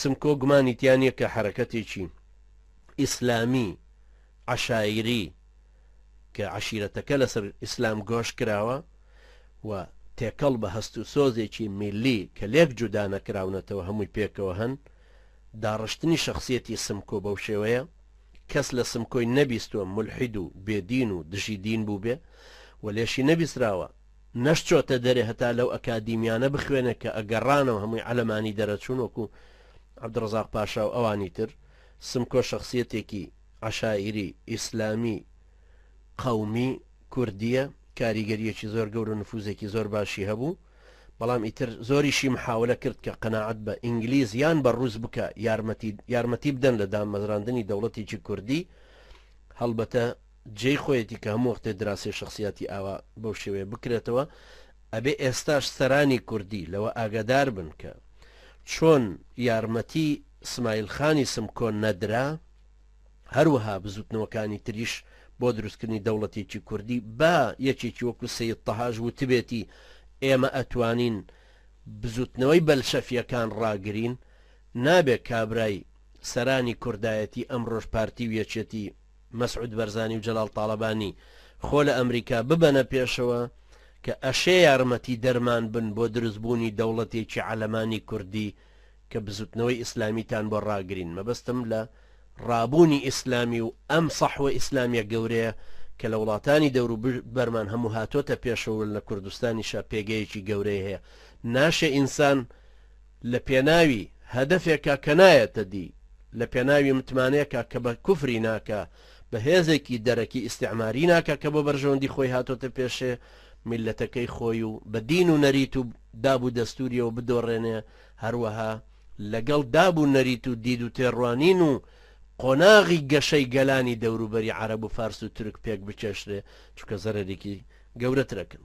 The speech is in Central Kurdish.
سمکۆ گومانی تیا نیە کە حەرەکەتێکی ئیسلامی عەشایری کە عەشیرەتەکە لەسەر ئیسلام گۆش کراوە و تێکەڵ بە هەست و سۆزێکی میللی کە لێک جودا نەکراونەتەوە هەمووی پێکەوە هەن داڕشتنی شەخسیەتی سمکۆ بەو شێوەیە کەس لە سمکۆی نەبیستوە مولحید و بێدین و دژی دین بووبێ و لێشی نەبیسراوە نەشچۆتە دەرێ هەتا لەو ئەکادیمیانە بخوێنێ کە ئەگەڕانەوە هەمووی عەلەمانی دەرەچوون وەکوو عەبدوڕەزاق پاشا و ئەوانی تر سمکۆ شەخسیەتێکی عەشایری ئیسلامی قەومی کوردیە کاریگەریەکی زۆر گەورە و نفوزێکی زۆر باشی هەبوو بەڵام ئیتر زۆریشی محاولە کرد کە قەناعەت بە ئینگلیز یان بە ڕووس بکا یارمەتی یارمەتی بدەن لە دامەزراندنی دەوڵەتێکی کوردی هەڵبەتە جێی خۆیەتی کە هەموو وەختێ دراسەی شەخسیاتی ئاوا بەو شێوەیە بکرێتەوە ئەبێ ئێستاش سەرانی کوردی لەوە ئاگادار بن کە چۆن یارمەتی سمایل خانی سمکۆ نەدرا هەروەها بزوتنەوەکانی تریش بۆ دروستکردنی دەوڵەتێکی کوردی با یەکێکی وەکو سید تەهاژ وتبێتی ئێمە ئەتوانین بزوتنەوەی بەلشەفیەکان ڕاگرین نابێت کابرای سەرانی کوردایەتی ئەمڕۆژ پارتی و یەکێتی مەسعود بەرزانی و جەلال تاڵەبانی خۆ لە ئەمریکا ببەنە پێشەوە کە ئەشێ یارمەتی دەرمان بن بۆ دروست بوونی دەوڵەتێکی عەلەمانی کوردی کە بزوتنەوەی ئیسلامیتان بۆ ڕاگرین مەبەستم لە ڕابوونی ئیسلامی و ئەم سەحوە ئیسلامیە گەورەیە کە لە وڵاتانی دەورو بەرمان هەموو هاتۆتە پێشەوە لە کوردستانیشا پێگەیەکی گەورەی هەیە ناشێ ئینسان لە پێناوی هەدەفێکا کە نایەتە دی، لە پێناوی متمانەیەکا کە بە کوفری ناکا، بە هێزێکی دەرەکی ئیستیعماری ناکا کە بۆ بەرژەوەندی خۆی هاتۆتە پێشێ میللەتەکەی خۆی و بە دین و نەریت و داب و دەستوریەوە بدۆڕێنێ، هەروەها لە گەڵ داب و نەریت و دید و تێڕوانین و قۆناغی گەشەی گەلانی دەوروبەری عەرەب و فارس و تورک پێک بکێشرێ، چونکە زەرەرێکی گەورەترەکن.